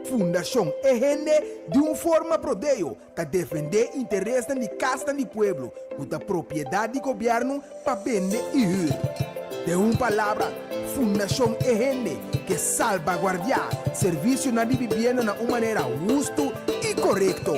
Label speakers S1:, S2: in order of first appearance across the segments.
S1: Fundashon E Hende di un forma prodeo ta defendé interesnan di kasnan di pueblo ku ta propiedat di gobièrnu pa bende i hür. Den un palabra, Fundashon E Hende ke salbaguardiá servisionan di bibienda na un manera hustu i korekto.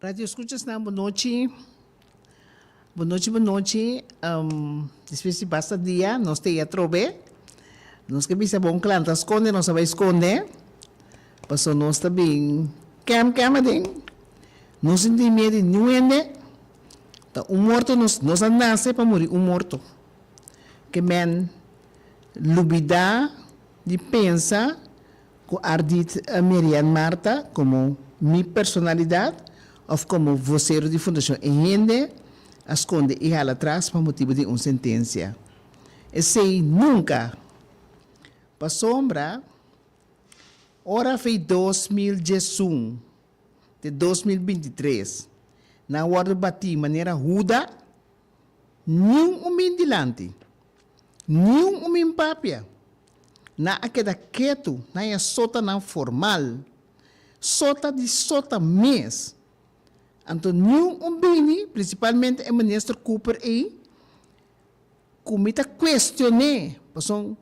S2: Radio escuchasnan bo nochi, bo nochi bo nochi despues di basta dia nos ta yei atrobe, nos ke bisa bon klanta skonde nos a bai skonde pasobra nos ta bin kèm kèm aden no sinti mie di niun hende ta un morto nos nos a nase pa muri un morto ke mèn lubidá di pensa ku Ardit Merian Marta komo mi personalidat òf komo vosero di Fundashon E Hende a skonde i hala tras pa motibu di un sentensia. Esei nunka! Pasobra ora fei dos mil diesun te dos mil binti tres nan wòrdu batí manera huda, Niun un bin dilanti, niun un bin papia. Nan a keda ketu na e sotanan formal, sota di sota mes. Anto niun un bini, prinsipalmente e Minister Cooper ei, ku mi ta kuestion'é, pasobra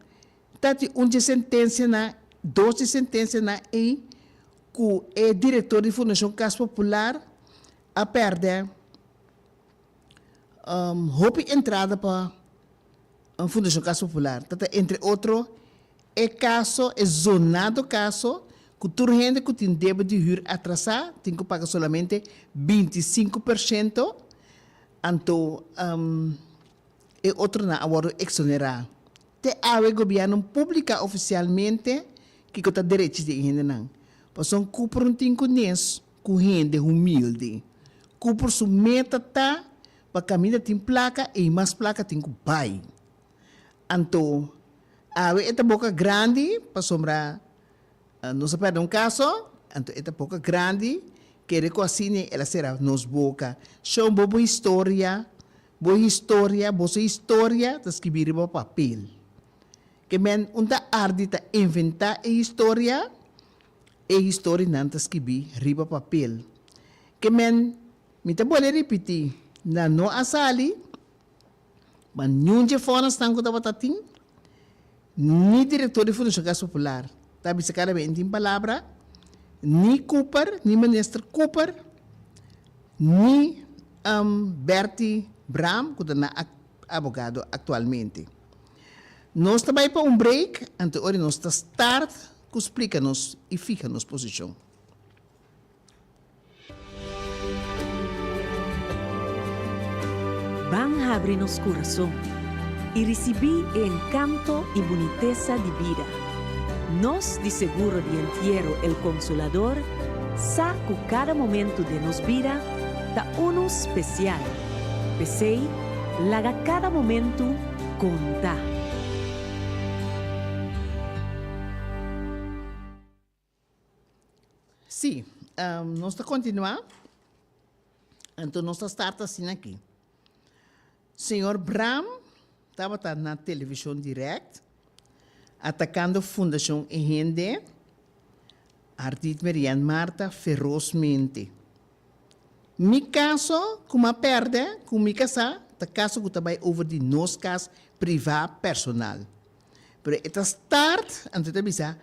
S2: ta tin un dje sentensianan, dos dje sentensianan ei ku e direktor di Fundashon Kas Popular a pèrdè. hopi entrada pa un Fundacion Casa Popular ta ta entre otro e kaso, e zonado kaso ku tur hende ku tin debe di hür atrasá tin ku paga solamente binti i sinku pershento, anto e otronan a wòrdu eksonerá. Te awe Gobièrnu publiká ofisialmente kiko ta derechi di e hendenan. Pasobra ku por un tin ku nes. Ku hende humildi, ku por su meta ta pa kaminda tin plaka e i mas plaka tin ku bai. Anto, awe e ta boka grandi, pasobra nos a pèrdè un kaso, anto e ta boka grandi, kere ku asina el a sera nos boka. Shon bo bo historia, bo historia, boso historia ta skibi riba papel. Ke mèn un ta ardi ta inventá e historia, E historinan ta skibí riba papel. Ke men, mi ta bole ripití, nan no a sali, ma niun dje fòrasnan ku tabata tin, ni direktor di Fundashon Kas Popular, ta bisa kada bes tin palabra, ni Cooper, ni minister Cooper, ni Berti Braam, ku ta nan abogado aktualmente. Nos ta bai pa un break, ante ora nos ta start ku splika nos i fiha nos posishon.
S3: Ban habri nos kurason i risibí e enkanto i bunitesa di bida. Nos di Seguro di Entiero El Consolador sa ku kada momentu den nos bida ta unu spesial, p'esei laga kada momentu konta.
S2: Sí, nos ta kontinuá, anto nos ta start asina aki. Señor Bram tabata na Television Direct atakando Fundacion E Hende, Ardit Merian Marta, ferozmente. Mi kaso ku mi a pèrdè, ku mi kasá, ta kaso ku ta bai over di nos kas privá, personal. Pero e ta start, anto e ta bisa,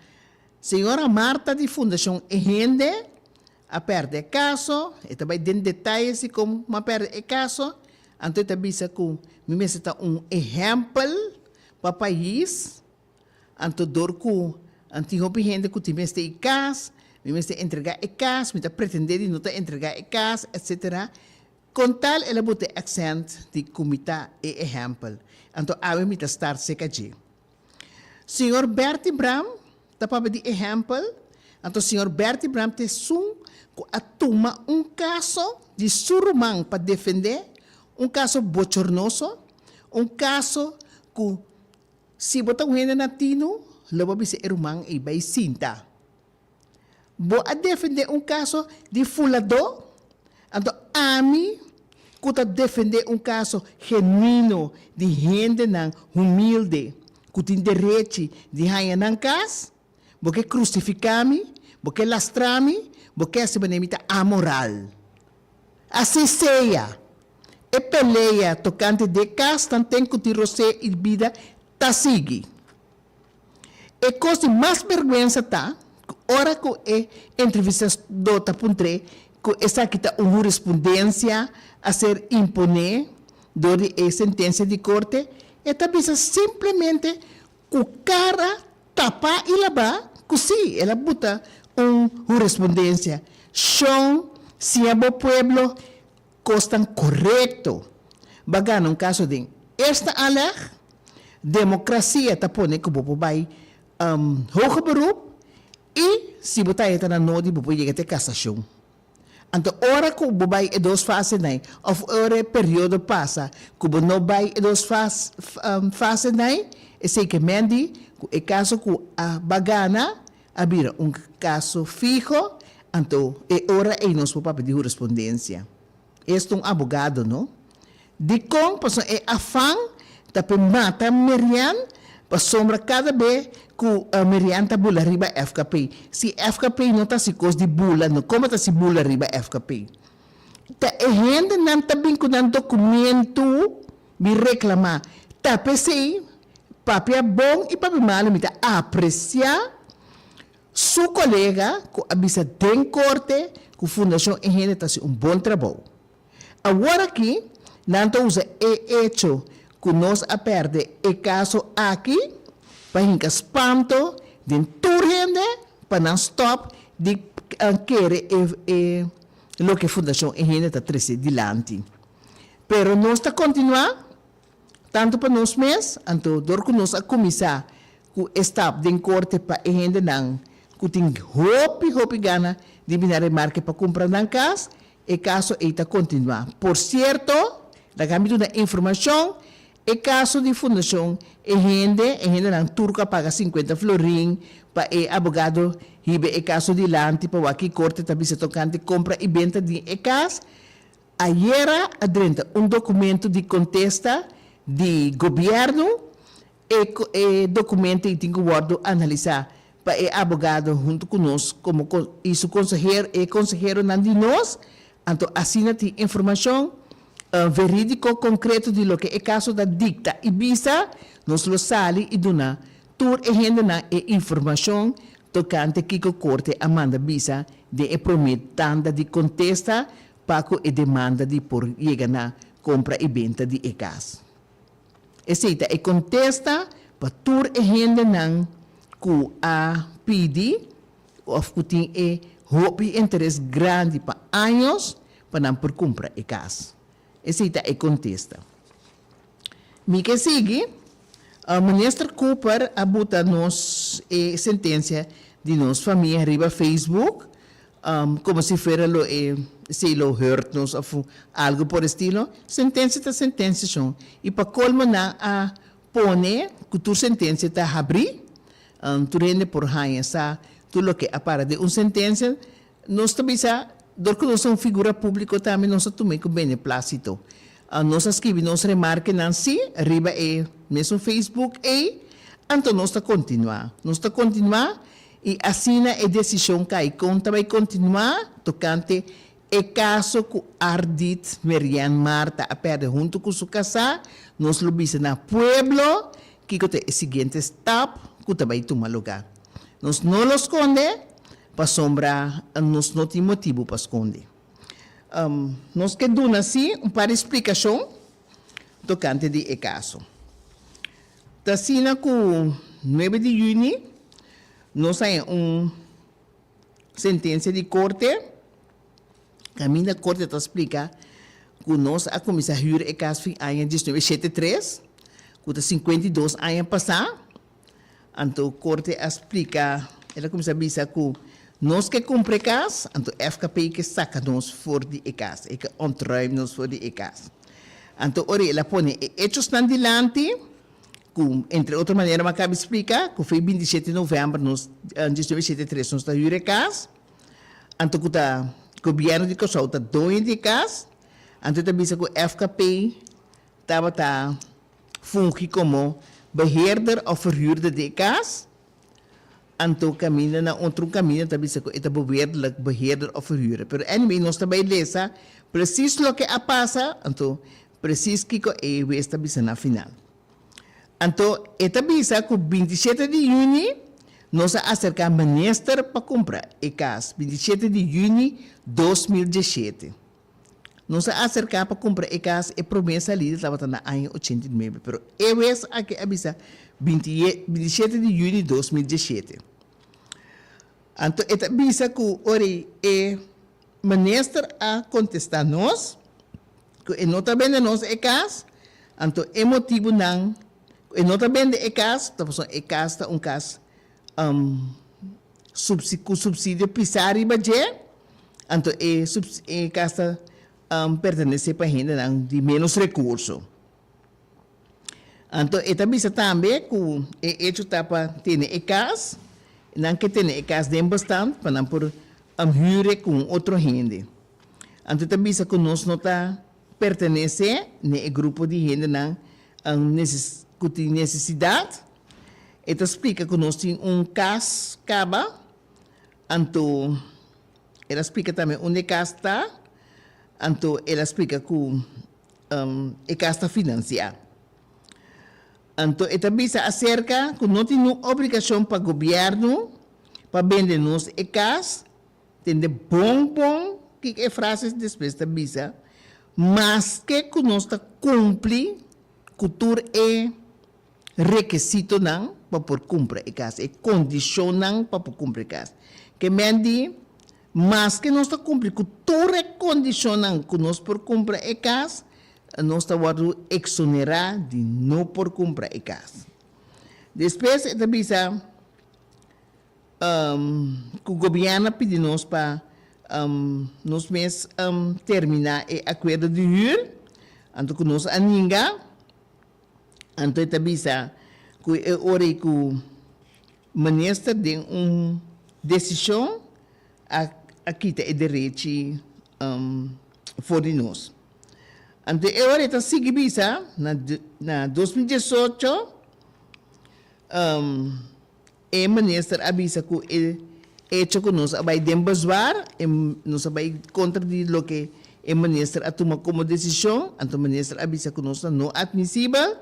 S2: Señora Marta di Fundacion E Hende a perde e caso, e ta bay den detalles di como a perde e caso, anto e ta bisa cu mi mester ta un ehempel pa pais, anto door cu a tin hopi hende cu tin mester y cas, mi mester entrega e cas, mi ta pretende di no ta entrega e cas, etcetera. Con tal el a bota e accent di cu mi ta e ehempel, anto ami mi ta star cerca dje. Señor Bertie Bram ta papia di ehempel, anto Señor Bertie Bram ta esun cu a tuma un caso di su ruman pa defende, un caso bochornoso, un caso cu si bo ta un hende natino lo bo a bisa e ruman ey bay sinta. Bo a defendé un kaso di fuladó? Anto ami ku ta defendé un kaso genuino di hendenan humilde ku tin derechi di haña nan kas, bo ke krusifiká mi, bo ke lastrá mi, bo ke hasi manera mi ta amoral. Así sea, e pelea tokante de kas tanten ku tin rosé i bida ta sigui. E kos di mas berguensa ta ku ora ku e entrevistadó ta puntr'é ku esaki ta un hurispundensia a ser imponé dor di e sentensia di korte, e ta bisa simplemente ku kara tapá i labá ku sí el a buta un hurispundensia. Shon, siña bo pueblo Kosnan korekto ba gana un kaso den Eerste Aanleg? Demokrasia ta pone ku bo por bai Hoger Beroep i si bo ta e ta na nodi bo por yega te kasashon. Anto ora ku bo bai e dos fasenai òf ora e periodo pasa ku bo no bai e dos fasenai, esei ke men di ku e kaso ku a ba gana, a bira un kaso fiho, anto e ora ei nos por papia di hurispondensia. Esta un abogado, no? Dikon pasobra e afan ta p'e mata Merian pasobra kada be ku Merian ta bula riba FKP. Si FKP no ta si kos di bula, no komo ta si bula riba FKP. Ta e hendenan ta bin ku nan dokumentu. Mi reklamá, Ta p'esei, Pape a Bon i Pape Malo mi ta apresiá su kolega ku a bisa den korte ku Fundashon E Hende ta hasi un bon trabou. Awor aki nan ta usa e echo ku nos a pèrdè e kaso aki pa hinka spanto den tur hende pa nan stòp di kere e loke Fundashon E Hende ta trese dilanti. Pero nos ta kontinuá tantu pa nos mes, anto dor ku nos a kuminsá ku e stap den korte pa e hendenan ku tin hopi hopi gana di bini a remarke pa kumpra nan kas, e kaso ei ta kontinuá. Por sierto, laga mi duna informashon, e kaso di fundashon e hende, e hendenan tur ku a paga sinkuenta florin pa e abogado hiba e kaso dilanti pa wak ki korte ta bisa tokante kompra i benta di e kas, Ayera a drenta un documento di contesta di Gobierno, e e documento y tin cu wordo analisa pa e abogado hunto cu nos como con y su consehero, e conseheronan di nos, anto asina tin informacion veridico concreto di loke e caso ta dicta y bisa, nos lo sali y duna tur e hendenan e informacion tocante kico Corte a manda bisa den e prome tanda di contesta pa ku e demanda di por yega na kompra i benta di e gas. Esei ta e kontesta pa tur e hendenan ku a pidi òf ku tin e hopi interes grandi pa años pa nan por kumpra e gas. Esei ta e kontesta. Mi ke sigui. Minister Cooper a buta nos e sentencia di nos famia riba Facebook como si fuera lo e esei lo hurt nos of algo por estilo. Sentencia ta sentencia shon y pa colmo nan a pone cu tur sentencia ta habri tur hende por haya sa tur loke a para den un sentencia Nos ta bisa, dor ku nos ta un figura públiko tambe nos ta tum'é ku beneplácito. Nos a skibi nos remarkenan sí riba e mesun Facebook ei, anto nos ta kontinuá. Nos ta kontinuá i asina e desishon kai kon ta bai kontinuá tokante e kaso ku Ardit Merian Marta a pèrdè huntu ku su kasá. Nos lo bisa na pueblo kiko ta e siguiente stap ku ta bai tuma lugá. Nos no lo skonde pasobra nos no tin motibu pa skonde. Nos ke duna sí un par di splikashon tokante di e kaso. Ta asina ku nuebe di yüni nos a haña un sentensia di korte, kaminda korte ta splika ku nos a kuminsá hür e kas fin aña diesnuebe shete tres, ku ta sinkuenta i dos aña pasá. Anto Corte a splica, el a cuminsa bisa cu nos ke cumpra e cas, anto FKP ke saca nos for di e cas, e ke ontruim nos for di e cas. Anto ora el a pone e hechosnan dilanti, cu entre otro manera bo a caba splica, cu fei binti shete november nos, diecinueve shete i tres nos ta hura e cas, anto cu ta Gobierno di Kòrsou ta doño di e cas, anto e ta bisa cu FKP tabata. fungi komo beheerder òf ferhurder di e kas, anto kaminda na otro kaminda ta bisa ku e ta boveerdelijk beheerder òf ferhurder. Pero anyway nos ta bai lesa presis loke a pasa, anto presis kiko e hues ta bisa na final. Anto e ta bisa ku binti shete di yüni nos a aserká minister pa kumpra e kas, binti shete di yüni dos mil diesshete. Nos a aserká pa kumpra e kas e promé salí di tabata na aña ochenta i nuebe, pero e wes aki a bisa binti e bintishete di yüni di dos mil diesshete. Anto e ta bisa ku ora e minister a kontestá nos ku e no ta bende nos e kas, anto e motibunan ku e no ta bende e kas ta pasobra e kas ta un kas ku supsidio pisá riba dje, anto e e kasa pertenesé pa hendenan di ménos rekurso. Anto e ta bisa tambe ku e echo ta pa tene e kas, nan ke tene e kas den bostan pa nan por hüre ku un otro hende. Anto e ta bisa ku nos no ta. pertenece ne e grupo di hendenan cu tin necesidad. E ta splica cu nos tin un cas caba, anto el a splica tambe unda e cas ta, anto el a splica cu e cas ta financia. Anto e ta bisa acerca cu no tin un obligacion pa gobierno pa bende nos e cas. Tende bon bon kiko e frases despues ta bisa, Maske ku nos ta kumpli ku tur e rekesitonan pa por kumpra e kas, e kondishonnan pa por kumpra e kas. Ke men di, Maske nos ta kumpli ku tur e kondishonnan ku nos por kumpra e kas, nos ta wòrdu eksonerá di no por kumpra e kas. Despues e ta bisa, Cu gobierno a pidi nos pa nos mes termina e acuerdo di huur, anto cu nos a ninga, anto e ta bisa cu e ora ei cu Minister den un decision a kita e derechi for di nos. Anto e ora ei ta sigui bisa na dos mil diesocho. E minister a bisa cu e hecho cu nos a bay den bezwaar, nos a bay contra di loke e minister a tuma como decision, anto minister a bisa cu nos ta no admisibel.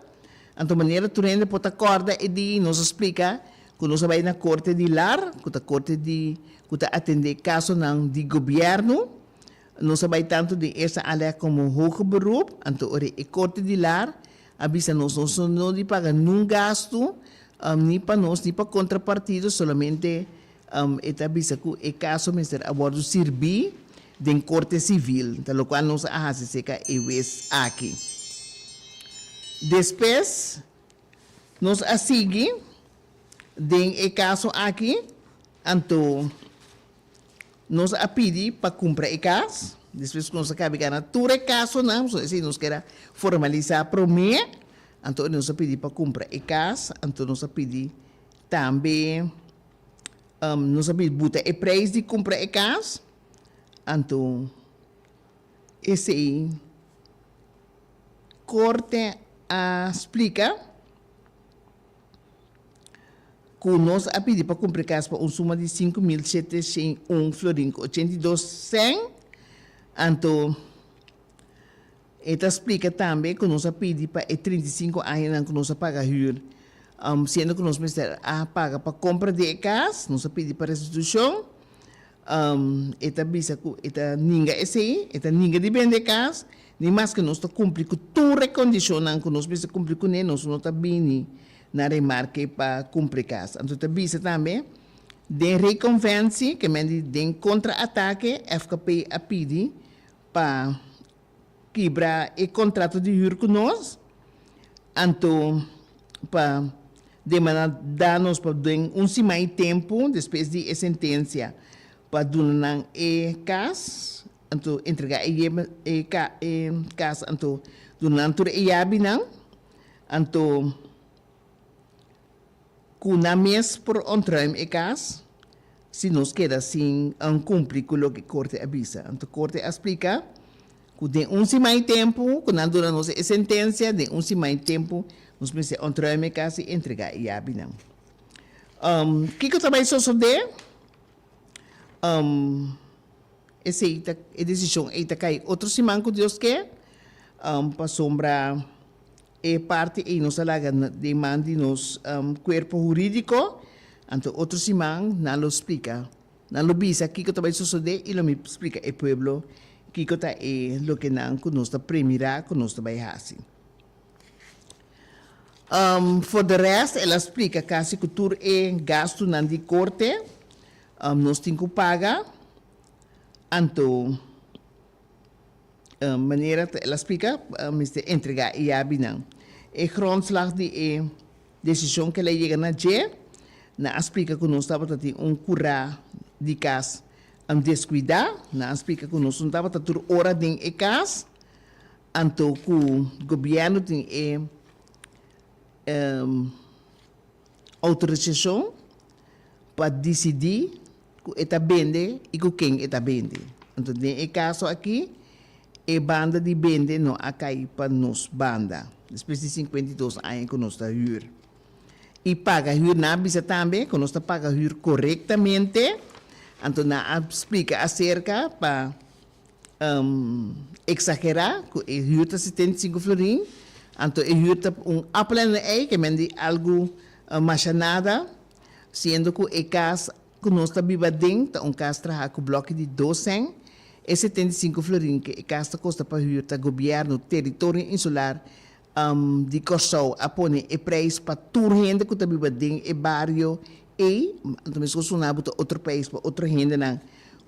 S2: Anto manera tur hende por ta corda e dia y nos a splica cu nos a bay na Corte di Lar, cu ta Corte di cu ta atende casonan di Gobierno. Nos a bai tantu den esta alek komo hoge beroep, anto ora e Korte di Lar a bisa nos nos no di paga nunk gastu, ni pa nos ni pa kontrapartido, solamente e ta bisa ku e kaso mester a wòrdu sirbí den Korte Sivil, ta lokual nos a hasi seka e wes aki. Despues nos a sigui den e kaso aki, anto. Nos a pidi pa kumpra e kas. Despues ku nos a kabe gana tur e kasonan, pasobra esei nos keda formalisá promé, anto nos a pidi pa kumpra e kas. Anto nos a pidi tambe, nos a pidi buta e preis di kumpra e kas. Anto esei Korte a splika. ku nos a pidi pa kumpri kas pa un suma di sinku mil shete shen i un florin ku ochenta i dos sen. Anto, e ta splika tambe ku nos a pidi pa e trinta i sinku añanan ku nos a paga hür, siendo ku nos mester a paga pa kompra di e kas, nos a pidi pa restitushon. E ta bisa ku e ta ninga esei, e ta ninga di bende e kas, ni maske nos ta kumpli ku tur e kondishonnan ku nos mester kumpli kuné, nos no ta bini na remarke pa kumpra e kas. Anto e ta bisa tambe, den rekonvensi, ke men di den kontraatake, FKP a pidi pa. kibra e kontrato di hür ku nos, anto pa demandá danos pa den un siman i tempu despues di e sentensia pa duna nan e kas, anto entregá e e kas, anto duna nan tur e yabinan, anto. Ku nan mes por ontruim e kas si nos keda sin kumpli ku loke korte a bisa. Anto korte a splika ku den un siman i tempu ku nan duna nos e sentensia, den un siman i tempu nos mester ontruim e kas i entregá e yabinan. Kiko ta bai sosodé? Esei ta, e desishon ei ta kai otro siman ku Dios ke, pasobra. E parti ei nos a laga den man di nos kuerpo hurídiko, anto otro siman nan lo splika, nan lo bisa kiko ta bai sosodé i lo mi splika e pueblo kiko ta e loke nan ku nos ta premirá ku nos ta bai hasi. For de rèst el a splika kasi ku tur e gastunan di korte nos tin ku paga, anto. Manera ta el a spliká, a mester entregá e yabinan. E grondslag di e desishon ku el a yega na dje nan a splika ku nos tabata tin un kurá di kas deskuidá. Nan a splika ku nos no tabata tur ora den e kas anto ku gobièrnu tin e. outorisashon pa disidí ku e ta bende i ku ken e ta bende. Anto den e kaso akí e banda di bende no a kai pa nos banda despues di sinkuenta i dos aña ku nos ta hür. I paga hür, nan a bisa tambe ku nos ta paga hür korektamente, anto nan a splika aserka pa. exagerá cu e huur ta setenta i sinku florin, anto e huur ta un appel en een ei, kemende di algu masha nada, siendo cu e cas cu nos ta biba aden ta un cas traha cu bloki di dos sèn. E setenta i sinku florin cu e cas ta costa pa huur ta Gobierno Territorio Insular di Kòrsou a pone e preis pa tur hende ku ta biba den e bario ei, anto mes ku Sunabo ta otro preis pa otro hendenan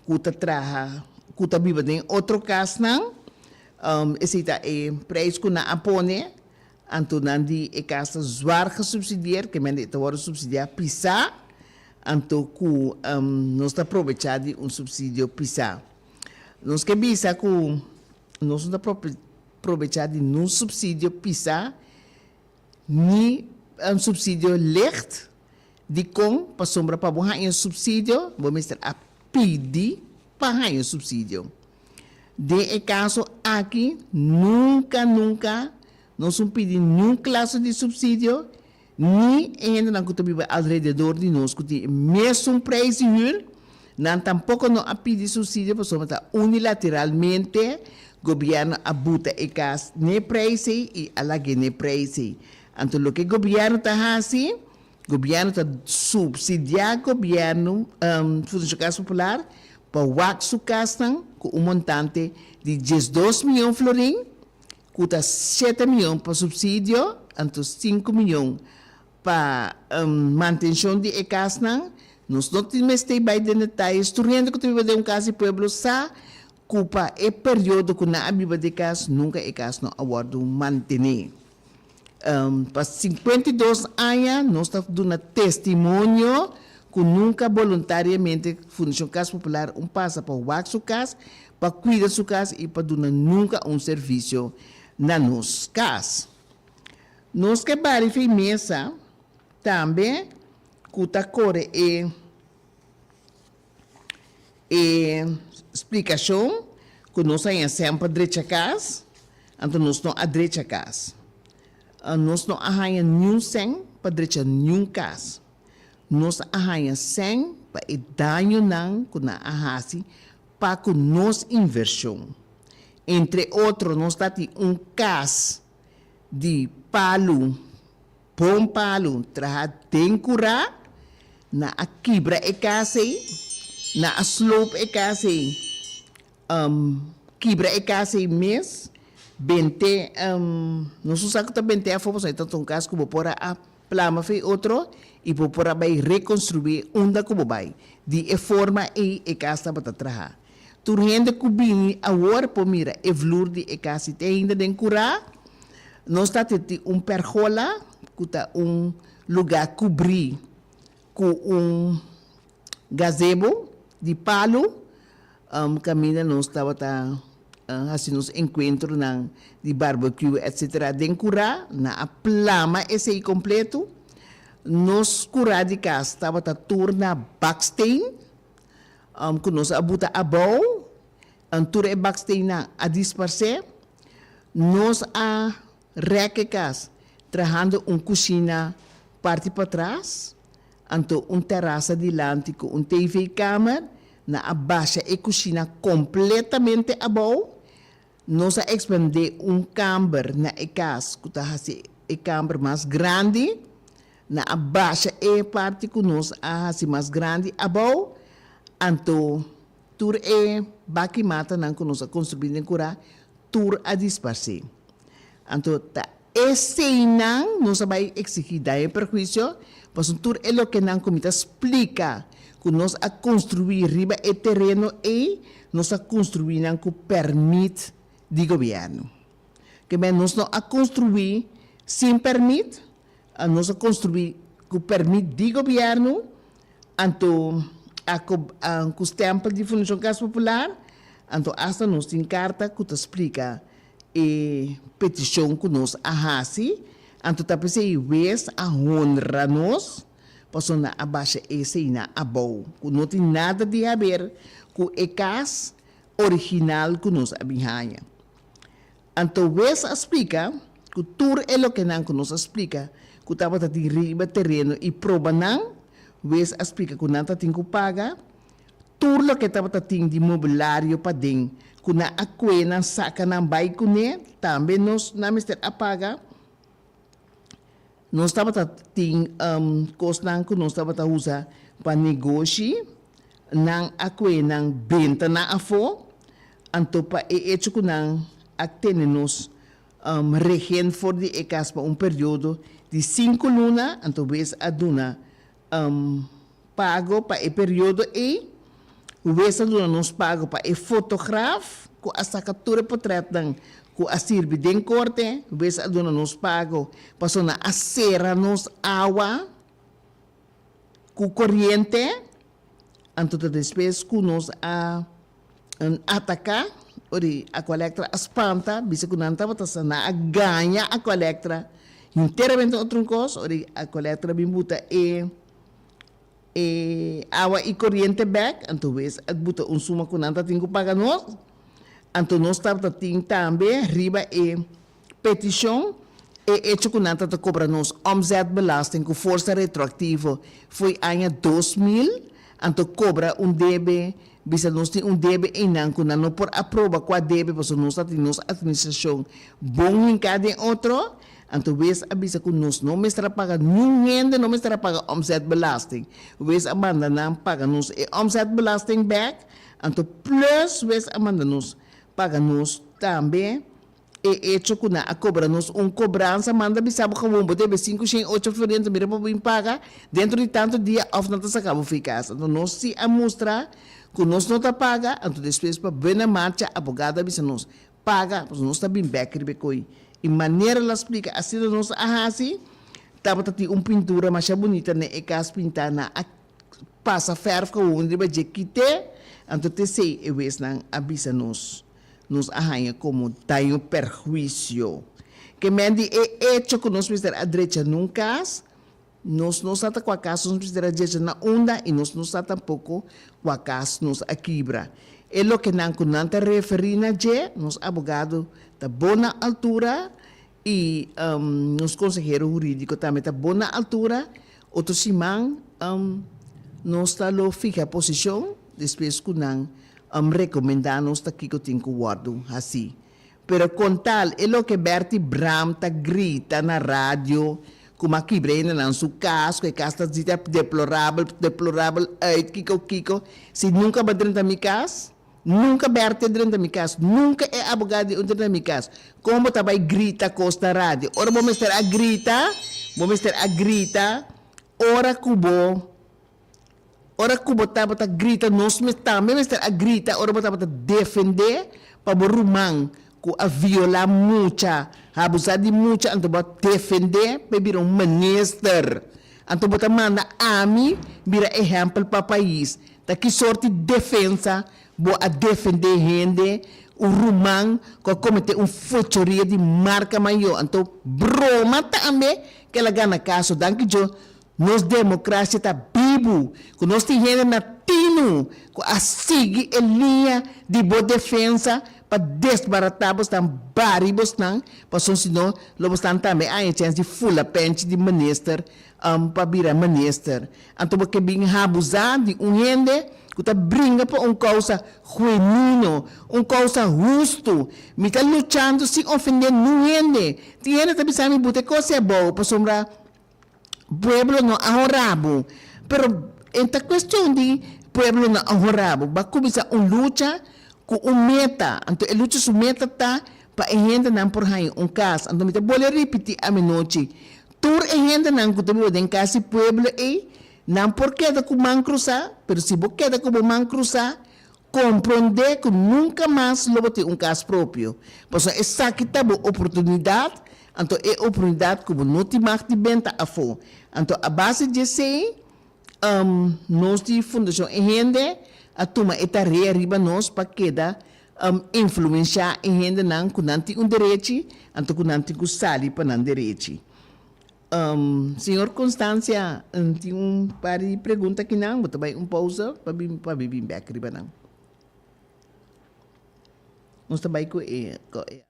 S2: ku ta traha ku ta biba den otro kasnan, esei ta e preis ku nan a pone, anto nan di e kas ta zwart gesubsidieerd, ke mende e ta wòrdu subsidiá pisá, anto ku nos ta probechá di un subsidio pisá. Nos ke bisa ku. Nos no ta probecha di nos subsidio pisa ni un subsidio licht. Dikon? Pasobra pa bo haña un subsidio bo mester a pidi pa haña un subsidio. Den e kaso aki nunka nunka nos un pidi niun klase di subsidio. Ni e hendenan ku ta biba alrededor di nos ku tin e mesun preis di hür, nan tampoko no a pidi supsidio pasobra ta unilateralmente gobièrnu a buta e kas n'e preis ei i a lag'é n'e preis ei. Anto loke gobièrnu ta hasi? Gobièrnu ta supsidiá gobièrnu Fundacion Casa Popular pa wak su kasnan ku un montante di diesdos mion florin cu ta siete miyon pa subsidio, anto sinku miyon pa mantencion di e casnan. Nos no tin mester bay den detalles, tur hende cu ta biba den un cas di pueblo sa cu pa e periodo cu nan a biba di e cas nunca e cas no a wordo mantene. Pa sinkuenta i dos aña nos ta duna testimonio ku nunka boluntariamente Fundashon Kas Popular un pasa pa wak su kas, pa kuida su kas i pa duna nunka un servisio na nos kas. Nos ke bari firmesa tambe ku ta kore e. e splikashon ku nos a haña semper drecha kas, anto nos no a drecha kas. Nos no a haña niun sen pa drecha niun kas. Nos a haña sen pa e dañonan ku nan a hasi pa ku nos invershon. Entre otro nos ta tin un kas di palu Pon palu traha den kurá, nan a kibra e kas ei, nan a sloop e kas ei, kibra e kas ei mes, bent'é, nos no sa ku ta bent'é afó, pasobra e ta ta un kas ku bo por a plama for e otro i bo por a bai rekonstruí unda ku bo bai. Di e forma ei e kas tabata traha. Tur hende ku bini awor por mira e vloer di e kas di te ainda den kurá. Nos ta teti un pèrgola ku ta un lugá kubrí ku un gazebo di palu. Kaminda nos tabata hasi nos enkuentronan di barbecue etsetera den kurá, nan a plama esei kompletu. Nos kurá di kas tabata tur na baksteen. ku nos a buta abou, and tur e baksteennan a disparsé, nos a rèk e kas trahando un kushina parti patras, anto un terasa dilanti ku un TV-kamer. Nan a basha e kushina kompletamente abou, Nos a expandé un kamber na e kas ku ta hasi e kamber mas grandi. Nan a basha e parti ku nos a hasi mas grandi abou. Anto tur e baki matanan ku nos a konstruí den kura tur a disparsé. Anto ta Eseinan nos a bai exigí daño i perhuicio, pasobra tur e lokenan ku mi ta splika ku nos a konstruí riba e tereno ei, nos a konstruí nan ku pèrmit di gobièrnu. Ke men nos no a konstruí sin pèrmit, nos a konstruí ku pèrmit di gobièrnu, anto a ko ku stèmpel di Fundashon Kas Popular, anto asta nos tin karta ku ta splika E peticion cu nos a haci anto ta p'esey e wees a honra nos, pasobra nan a basha eseynan abou, cu no tin nada di haber cu e cas original cu nos a bin haña. Anto wees a splica cu tur e lokenan cu nos a splica cu tabata tin riba tereno y probanan, wees a splica cu nan ta tin cu paga, Tur loke tabata tin di mobilario paden cu nan a cue nan saca nan bay cune tambe nos nan mester a paga. Nos tabata tin cosnan cu nos tabata usa pa negoshi, nan a cue nan benta nan afo, anto pa e echo cu nan a tene nos rehen for di e cas pa un periodo di cinco luna, anto wes a duna Pago pa e periodo ei. Wes a duna nos pago pa e fotograf ku a saka tur e potrètnan ku a sirbi den korte. Wes a duna nos pago pasobra nan a sera nos awa ku koriente. Anto ta despues ku nos a. Nan ataká ori Aqualectra a spanta bisa ku nan tabata sa nan a gaña Aqualectra hinteramente otro un kos ori Aqualectra bin buta e e awa i koriente bèk anto wes a buta un suma ku nan ta tin ku paga nos anto nos tabata tin tambe riba e Peticion, E hecho cu nan ta ta cobra nos omzetbelasting cu forsa retroactivo fo'i aña dos mil, anto cobra un debe, bisa nos tin un debe eynan cu nan no por aproba cua debe pasobra nos ta tin nos administracion bon hinca den otro, anto wees a bisa cu nos no mester a paga, niun hende no mester a paga omzetbelasting, wees a manda nan paga nos e omzetbelasting bek, anto plus wees a manda nos paga nos tambe E echo cu nan a cobra nos un cobransa manda bisa bo con bo debe sinku shen ocho floriento mira pa bo bin paga dentro di tanto dia of nan ta saka bo fey casa. Anto nos si a mustra cu nos no ta paga anto despues pa buena marcha abogado a bisa nos paga pasobra nos ta bin bek riba e coy y manera lo a splica asina nos a haci tabata tin un pintura masha bunita ne e cas pinta nan a pasa fèrf kawun riba dje kit'é, anto t'esei e wesnan a bisa nos, nos a haña komo daño perhuisio. Kemen di e echo ku nos mester a drecha na un kas, nos no sa ta kua kas nos mester a drecha na unda i nos no sa tampoko kua kas nos a kibra. E lokenan ku nan ta referí na dje, nos abogado ta bon na altura i nos konsehero hurídiko tambe ta bon na altura Otro siman nos ta lo fiha posicion despues cu nan recomenda nos ta kico tin cu wordo haci. Pero con tal e loke Bertie Bram ta grita na radio cu ma kibra hende nan su cas, cu e cas ta dita deplorable, deplorable uit kico kico, si nunca ba drenta mi cas. Nunca Bertha dren ta mi cas, nunca e abogado di un dren ta mi cas. Con bo ta bay grita cos na radio? Ora bo mester a grita, bo mester a grita ora cu bo, ora cu bo tabata grita, nos mes tambe mester a grita ora bo tabata defende pa bo ruman cu a viola mucha, abusa di mucha, anto bo a defende pa e bira un minister. Anto bo ta manda ami bira ehempel pa pais. Ta ki sorti defensa bo a defendé hende, un ruman ku a kometé un fechoria di marka mayo? Anto broma tambe ke la gana kaso. Danki Djo, nos demokrasia ta bibu, ku nos tin hende na Tinu ku a sigui e liña di bo defensa pa desbaratá bosnan, bari bosnan, pasobra si no lo bosnan tambe a haña chèns di fula pènchi di minister. Am pa bira minister. Anto bo ke bin habusá di un hende ku ta bringa pa un kousa huenuno, un kousa hustu. Mi ta luchando sin ofendé nun hende. Tin hende ta bisa mi buta e kos ei abou pasobra pueblo no a horá bo. Pero e ta kuestion di pueblo no a horá bo. Bo a kuminsá un lucha ku un meta. Anto e lucha su meta ta Pa e hendenan por haña un kas. Anto mi ta bole ripití aminochi, tur e hendenan ku ta biba den kas di pueblo ei, nan por keda ku man krusá, pero si bo keda ku bo man krusá, komprondé ku nunka mas lo bo tin un kas propio, pasobra esaki ta bo oportunidat, anto e oportunidat ku bo no tin mag di benta afó. Anto a base di esei, Nos di Fundashon E Hende a tuma e tarea riba nos pa keda influensha e hendenan ku nan tin un derechi anto ku nan tin ku sali pa nan derechi. Señor Constancia tin un par di pregunta akinan, bo ta bai un pousa pa bin pa mi bin bèk riba nan. Nos ta bai ku e.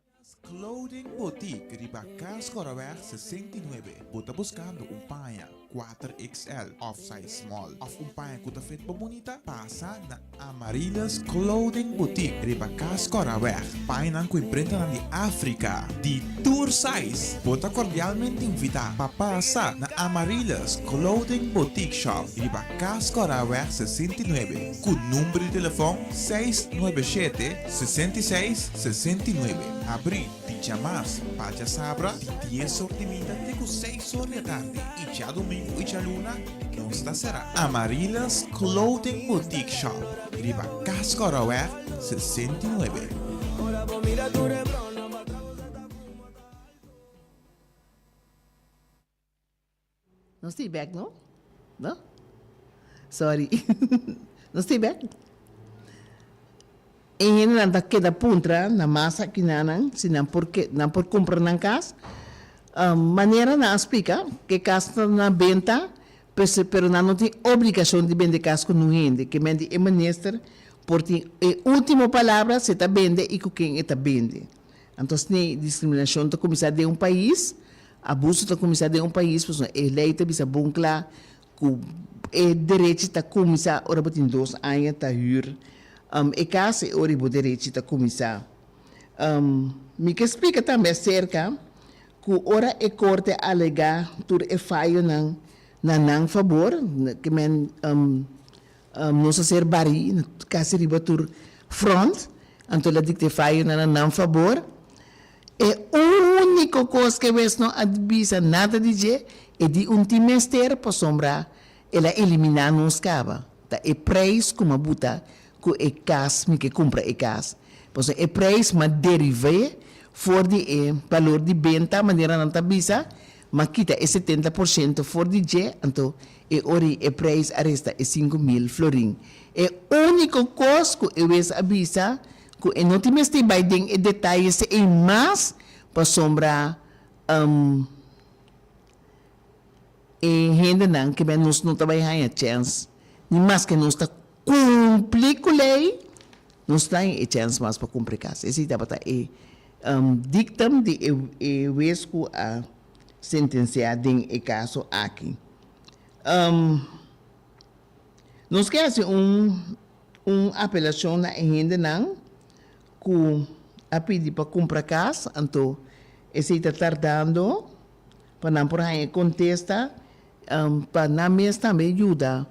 S2: Cas
S4: Clothing Boutique riba Cas Corraweg 69. Bo ta buscando un paña kuater XL of size small of un paña cu ta fit bo bunita? Pasa na Amarillas Clothing Boutique riba Cas Corraweg. Pañanan cu imprintanan di Africa di tur size. Bo ta cordialmente invita pa pasa na Amarillas Clothing Boutique Shop riba Cas Corraweg 69 cu number di telefon seis nuebe shete Sesenta i seis, sesenta i nuebe, Abrí, di djamas pa djasabra, di dies or di minda te ku seis or di atardi i djadumingu i djaluna nos ta será. Amarillas Clothing Boutique Shop, riba Cas Kòròweg sesenta i nuebe.
S2: No stay back no no sorry no stay back e hendenan ta keda puntra na mas akinanan si nan por nan por kumpra nan kas manera nan a splika ke kas ta na benta pero nan no tin obligashon di bende kas ku nun hende kimente e minister por tin e ultimo palabra si e ta bende i ku ken e ta bende. Anto asina e diskriminashon ta kuminsá den un pais, abuso ta kuminsá den un pais pasobra e lei ta bisa bon kla ku e derechi ta kuminsá ora bo tin dos aña ta hür e kas, e ora bo derechi ta kuminsá. Mi ke splika tambe aserka ku ora e korte a alegá tur e fayonan na nan fabor, ke men. Nos a ser barí na casi riba tur front, anto la dictefayo na na nan fabor. E único cos que aves no a bisa nada di dje e di un tin mester pasobra el a eliminá nos caba, ta e prijs cu m'a buta cu e cas, mi ke cumpra e cas, pasobra e prijs m'a derivé for di e balor di benta manera nan ta bisa Ma kita e setenta por shento for di dje, anto e ori e preis a resta e sinku mil florin. E úniko kos ku e wes a bisa ku e no tin mester bai den e detayes ei mas pasobra e hendenan ke bai nos no ta bai haña chèns ni maske nos ta Kumpli ku lei, nos ta in e chèns mas pa kumpri kas. Esei tabata e diktum di e wes ku a sentensiá den e kaso aki. Nos ke hasi un apelashon na e hendenan ku a pidi pa kumpra kas, anto esei ta tardando. pa nan por haña e kontesta, pa nan mes tambe yuda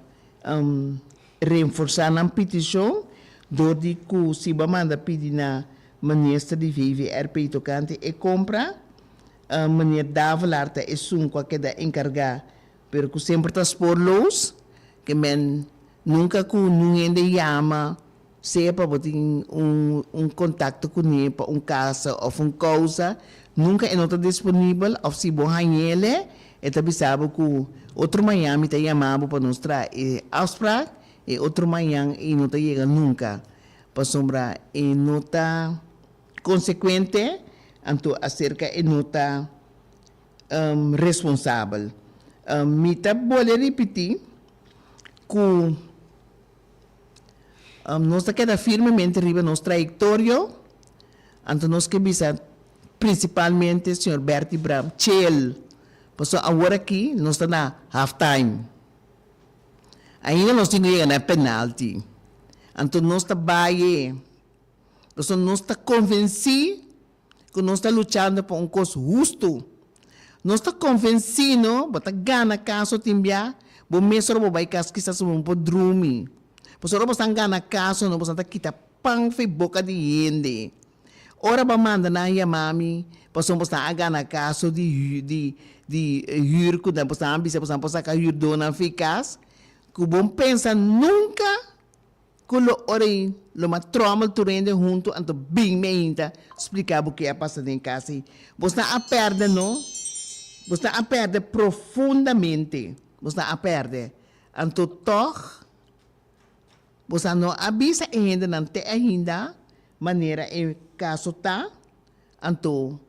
S2: renforsá nan pitishon dor di ku si bo a manda pidi na Minister di VVRP tokante e kompra, Meneer Davelaar ta esun ku a keda enkargá, pero ku semper ta spoorloos, ke men nunka ku nun hende yama. Sea pa bo tin un kontakto kuné pa un kasa òf un kousa, nunka e no ta disponibel òf si bo hañ'é elé, e ta bisa bo ku, Otro mañan mi ta yama bo pa nos traha e afsprak, e otro mañan ei no ta yega nunka pasobra e no ta konsekuente, anto aserka e no ta responsabel. Mi ta bole ripití ku. Nos ta keda firmemente riba nos trayektorio, anto nos ke bisa prinsipalmente señor Bertie Bram chel, pasobra awor aki nos ta na halftime, ainda nos tin ku yega na e penalti, anto nos ta baye, pasobra nos ta konvensí. ku nos ta luchando pa un kos hustu. Nos ta konvensí no bo ta gana kaso tin bia bo mes ora bo bai kas kisas bo no por drumi. Pasobra ora bosan gana kaso no bosan ta kita pan for e boka di hende. Ora bo a manda nan yama mi pasobra bosan a gana kaso di di di hür ku bosan a bisa bosan a por saka hürdonan for e kas ku bon pensa nunka. Cu lo ora y lo ma trommel tur hende hunto anto bing mi ainda splica bo ke a pasa den casa y bo sna a perde no, bo sna a perde profundamente, bo sna a perde. Anto toch bo sa no a bisa e hende nan te ainda manera e caso ta, anto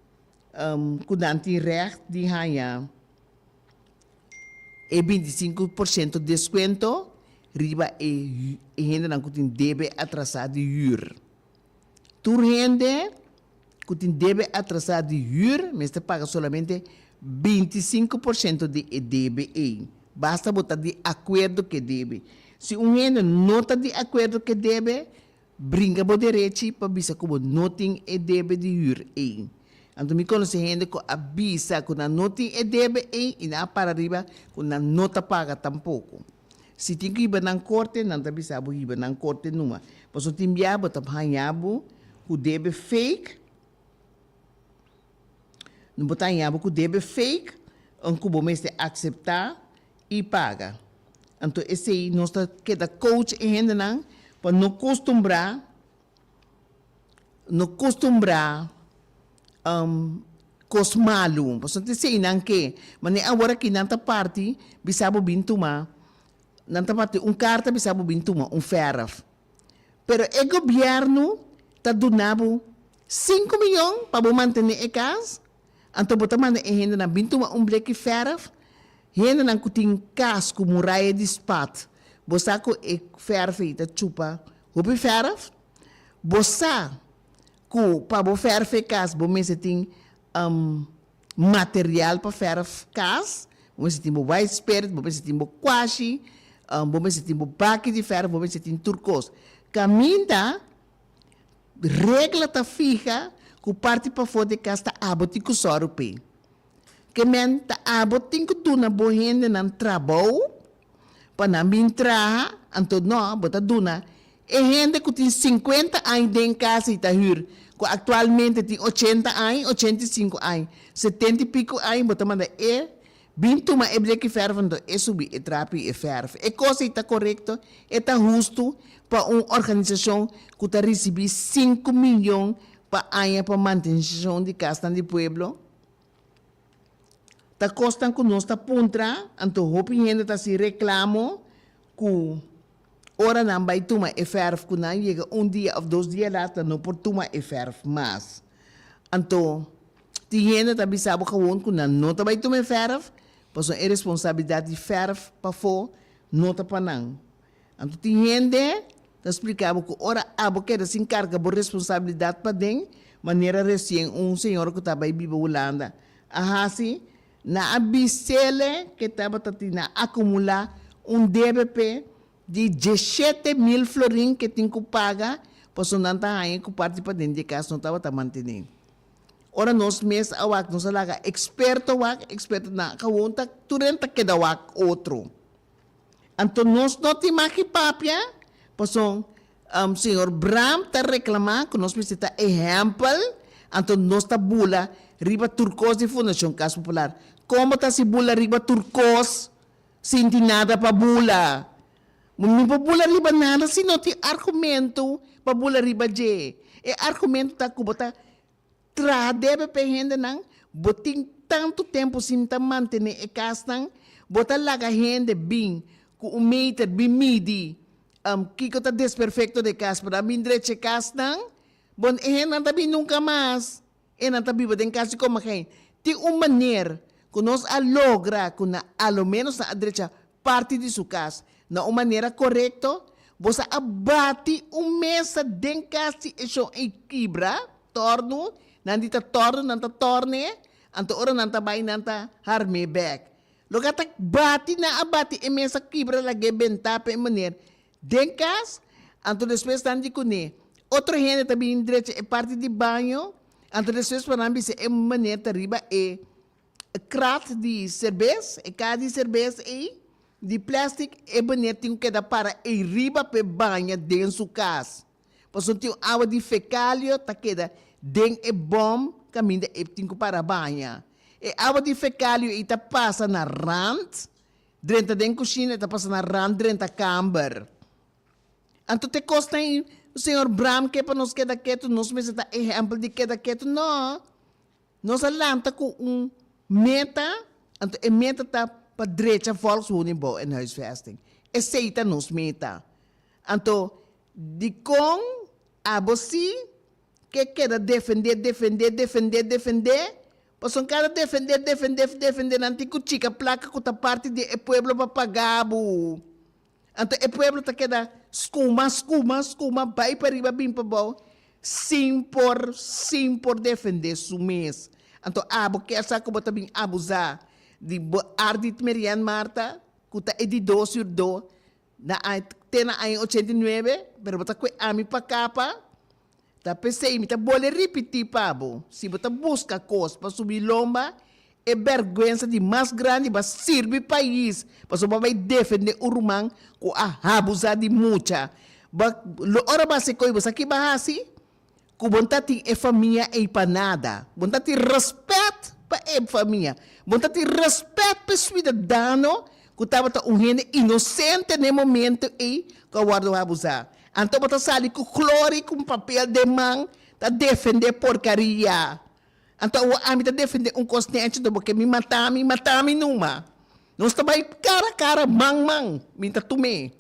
S2: cu nan tin recht di hanja. e binti sinku por siento deskuento riba e hendenan ku tin debe atrasá di hür. Tur hende ku tin debe atrasá di hür mester paga solamente binti sinku por siento di e debe ei, basta bo ta di akuerdo ku e debe. Si un hende no ta di akuerdo ku e debe, Brinca bo derechi pa bisa cu bo no tin e debe di huur ey. Anto mi conoci hende cu a bisa cu nan no tin e debe ey y nan a para riba cu nan no ta paga tampoco. Si tin cu hiba nan corte, nan ta bisa bo hiba nan corte numa, pasobra tin bia bo ta haña bo cu debe fake, bo ta haña bo cu debe fake, un cu bo mester acepta. y paga. Anto esey nos ta keda coach e hendenan pa no costumbra no costumbra cos malu pasobra ta esey nan ke mane awor aki nan ta parti bisa bo bin tuma nan ta parti un carta bisa bo bin tuma un verf pero e gobierno ta duna bo cinco millon pa bo mantene e cas. Anto bo ta manda e hendenan bin tuma un bleki fèrf? Hendenan ku tin kas ku muraya di spat, bo sa ku e fèrf ei ta chupa hopi fèrf? Bo sa ku pa bo fèrf e kas bo mester tin material pa fèrf kas? Bo mester tin bo white spirit, bo mester tin bo kwashi, bo mester tin bo baki di fèrf, bo mester tin tur kos. Kaminda Regla ta fiha ku parti pafó di e kas ta abo tin ku sòru p'e. Kemen ta abo tin ku duna bo hendenan trabou pa nan bin traha, anto nò bo ta duna e hende ku tin sinkuenta aña den kas i ta hür, ku aktualmente tin ochenta aña, ochenta i sinku aña, setenta i piku aña, bo ta manda e Bin tuma e bleki fèrf anto e subi e trapi i e fèrf. E kos ei ta korekto, e ta hustu pa un organisashon ku ta risibí sinku miyon pa aña pa mantenshon di kasnan di pueblo? Ta kosnan ku nos ta puntra, anto hopi hende ta hasi reklamo ku ora nan bai tuma e fèrf ku nan yega un dia òf dos dia lata no por tuma e fèrf mas. Anto. Tin hende ta bisa bo kawon ku nan no ta bai tuma e fèrf, pasobra e responsabilidat di fèrf pafó no ta pa nan. Anto tin hende ta splika bo ku ora abo keda sin karga bo responsabilidat paden, manera resien un señora ku ta bai biba Hulanda a hasi, nan a bis'ele ke tabata tin nan akumulá un debe p'e di djeshete mil florin ke tin ku paga pasobra nan ta haña ku parti paden di e kas no tabata mantené. Ora nos mes a wak nos a laga eksperto wak, ekspertonan gewoon ta tur nan ta keda wak otro. Anto nos no tin mak ki papia, pasobra señor Bram ta reklama ku nos mester ta ehèmpel, anto nos ta bula riba tur kos di Fundashon Kas Popular. Kon bo ta hasi bula riba tur kos sin tin nada pa bula? Bo no por bula riba nada si no tin argumento pa bula riba dje. E argumento ta cu bo ta traha debe pa e hendenan, bo tin tanto tempo sin ta mantene e casnan, bo ta laga hende bin cu un meter bin midi kico ta desperfecto den e cas, pero a bin drecha e casnan, bo e hendenan ta bin nunca mas. E nan ta biba den kasi koma hei. Tin un maner ku nos a logra ku nan a lo menos nan a drecha parti di su kas na un manera korekto. Bo sa a bati un mesa den kas si e shon ei kibra, tòrnu, nan di ta tòrnu, nan ta tòrne, anto ora nan ta bai nan ta harmé bèk. Loke a ta bati nan a bati e mesa kibra lag'é bentá p'e maner Den cas, anto despues nan di cuné otro hende ta bini drecha e parti di baño, anto despues por nan bisa e muné ta riba e krat di serbes, e caha di serbes ey di plastic, e muné tin cu keda para ey riba p'e baña den su cas, pasobra tin un awa di fecalio ta keda den e bom caminda ey tin cu para baña. E awa di fecalio ey ta pasa na rand. Drenta den kushina e ta pasa na rant drenta kamber. Anto te kos ta i Señor Bram ke pa nos keda ketu, nos mester ta ehèmpel di keda ketu? No. Nos a lanta ku un meta, anto e meta ta pa drecha volkswoningbouw en huisvesting. Esei ta nos meta. Anto dikon abo si? ke keda defende, defende, defende, defende, pasobra kada defende, defende, defende nan tin ku chika plaka ku ta parti di e pueblo pa paga bo, anto e pueblo ta keda skuma, skuma, skuma, bai pariba bin pa bou sin por, sin por defende su mes, anto abo kier sa ku bo ta bin abusa di bo ardit Merian Marta ku ta e di dos yurdo Na aña, te na aña ochenta i nuebe, pero bo ta kue ami pa kapa, ta pesey mi ta bole ripití pa bo, si bo ta buska kos pa subí lomba, e bèrgwensa di mas grandi bo a sirbi pais, pasobra bo a bai defendé un ruman ku a habusá di mucha. Bo a, lo ora bo a hasi ko'i bo sa ki bo a hasi? ku bon ta tin e famia ei pa nada. Bon ta tin rèspèt pa e famia. Bon ta tin rèspèt pa e suidadano ku tabata un hende inosente na e momentu ei ku a wòrdu abusá. Anto bo ta sali ku klori ku un papel den man ta defendé porkaria. Anto awor ami ta defendé un kos den anchi, anto bo ke mi matá mi, matá mi numa. Nos ta bai kara kara, man man, mi ta tum'é.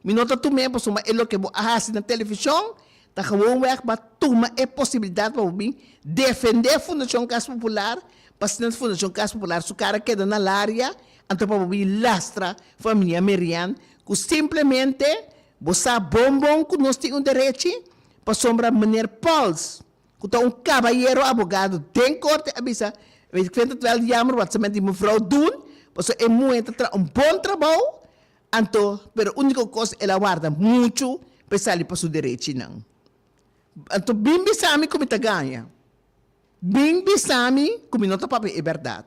S2: Mi no ta tum'é pasobra e loke bo a hasi na televishon ta gewoonweg pa tuma e posibilidat pa bo bin defendé Fundashon Kas Popular pasinal Fundashon Kas Popular su kara keda na Laria anto pa bo bin lastra famia Merian ku simplemente bo sa bon bon ku nos tin un derechi pasobra Meneer Pauls ku ta un kabayero abogado den korte a bisa ik vind het wel jammer wat ze met di Mevrou doen paso e muhe ta traha un bon trabou. Anto, pero úniko kos el a warda muchu pa e sali pa su derechinan. Anto bin bisa mi ku mi ta gaña. Bin bisa mi ku mi no ta papia e bèrdat.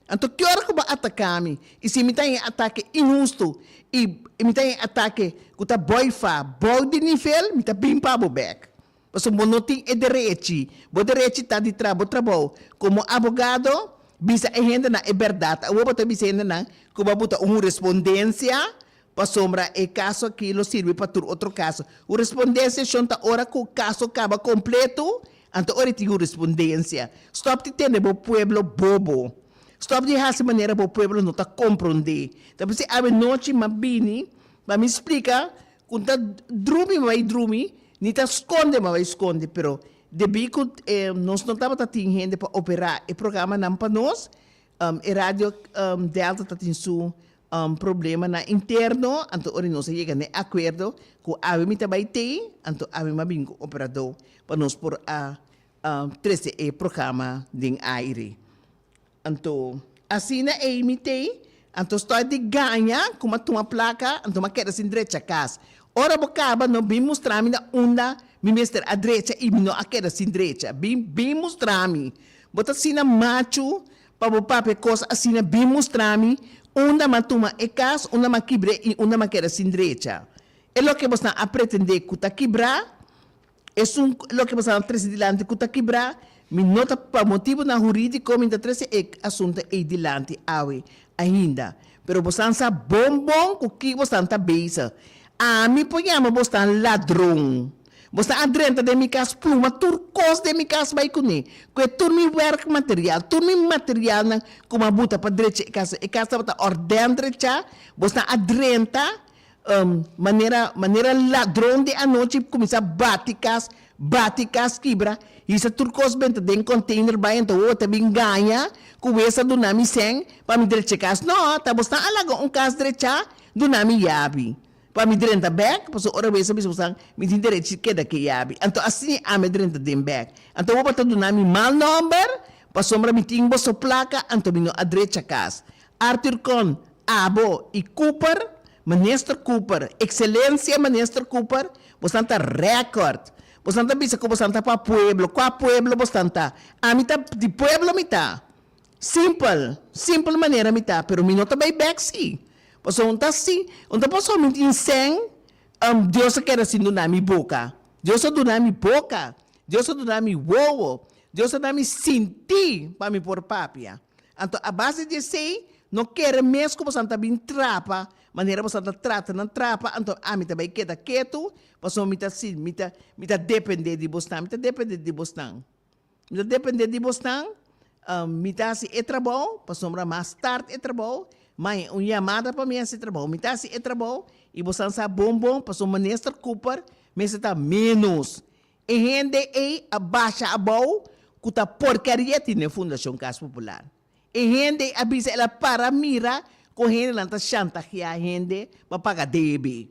S2: Anto ki ora ku bo ataká mi, i si mi ta e atake inhustu i mi ta e atake ku ta bòi fa bou di nivel, mi ta bin pa bo bèk. Pasobra bo no tin e derechi. Bo derechi ta di traha bo trabou. Komo abogado, bisa e hendenan e bèrdat. Awor bo ta bisa e hendenan ku bo a buta un hurespondensia pasobra e kaso akí lo sirbi pa tur otro kaso. Hurespondensia shon ta ora ku kaso kaba kompletu, anto ora e tin hurespondensia. Stòp di tende bo pueblo bobo. Stòp di hasi manera bo pueblo no ta komprondé. Ta p'esei awe nochi m'a bini pa mi splika Ku ta drumi bai drumi, ni ta skonde ma bai skonde, pero debí ku nos no tabata tin hende pa operá e programanan pa nos, e Radio Delta ta tin su problemanan interno, anto ora nos a yega na e akuerdo ku awe mi ta bai tei, anto awe mi a bini ku operadó pa nos por a trese e programa den aire. Anto asina ei mi t'ei, anto stòi di gaña ku m'a tuma plaka, anto m'a keda sin drecha kas. Ora bo kaba, no bin mustra mi na unda mi mester a drecha i mi no a keda sin drecha. Bin, bin mustra mi. Bo ta asina machu pa bo papia kos asina, bin mustra mi unda m'a tuma e kas, unda m'a kibr'é i unda m'a keda sin drecha. E loke bosnan a pretendé ku ta kibrá. Esun loke mi sa trese dilanti ku ta kibrá. Mi no ta pa motibunan hurídiko mi ta trese e asuntu ei dilanti awe ainda. Pero bosnan sa bon bon ku ki bosnan ta bezig. Ami por yama bosnan ladron. Bosnan a drenta den mi kas, pluma tur kos den mi kas bai kuné, kue tur mi wèrk material, tur mi materialnan ku mi a buta pa drecha e kas. E kas tabata òrdèn drechá, bosnan a drenta. manera manera ladron di anochi kuminsá bati kas, bati kas kibra, hisa tur kos benta den konteiner bai anto wowo ta bin gaña ku wes a duna mi sèn pa mi dreche kas nò ta bo stan a laga un kas drechá duna mi yabi pa mi drenta bèk paso ora wes a bisa bo san mi tin derechi di keda ke yabi anto asi ami a drenta den bèk anto wowo ta duna mi mal nòmber pasobra mi tin boso plaka anto mi no a drecha kas Arthur Con, Abo y Cooper, Minister Cooper, Excelencia Minister Cooper, bosnan ta record. Bosnan ta bisa cu bosnan ta pa pueblo. Cua pueblo bosnan ta? Ami ta di pueblo mi ta. Simpel, simpel manera mi ta, pero mi no ta bay bek si. Pasobra un ta si, un ta pasa un minti insen, Dios a keda sin duna mi boca. Dios a duna mi boca. Dios a duna mi wowo. Dios a da mi sinti pa mi por papia. Anto a base di esei, no kere mes ku boso a ta bin trapa manera boso a ta trata nan trapa, anto ami ta bai keda ketu pasobra mi ta sin mi ta mi ta depende di bosnan, mi ta depende di bosnan, mi ta depende di bosnan, mi ta hasi e trabou pasobra mas tard e trabou mai un yamada pa mi hasi e trabou, mi ta hasi e trabou i boso a sa bon bon pasobra Minister Cooper mester ta menos. E hende ey a basha abou cu ta porcaria tin den Fundacion Cas Popular. E hende ey a bisa el a para mira con hendenan ta shantajea hende pa paga DEB.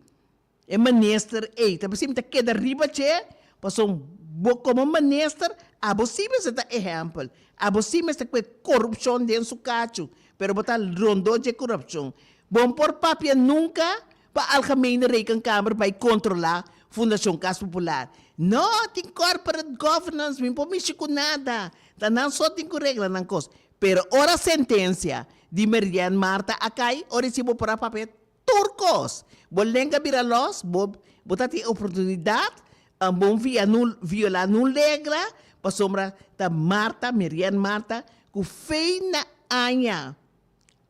S2: E minister ey ta pasim ta keda riba dje pasobra bo como minister abo si mester ta ehempel, abo si mester cu e corupcion den su cacho, pero bo ta rondo dje corupcion. Bo no por papia nunca Pa algemene Rekenkamer bai kontrolá Fundashon Kas Popular? No, tin corporate governance, mi por mishi ku nada, ta nan so tin ku regla nan kos. Pero ora sentensia di Merian Marta a kai, ora i si bo por a papia tur kos, bo lenga bira lòs, bo bo ta tin oportunidat om bon via nun violá nun legla, pasobra ta Marta, Merian Marta, ku feina aña.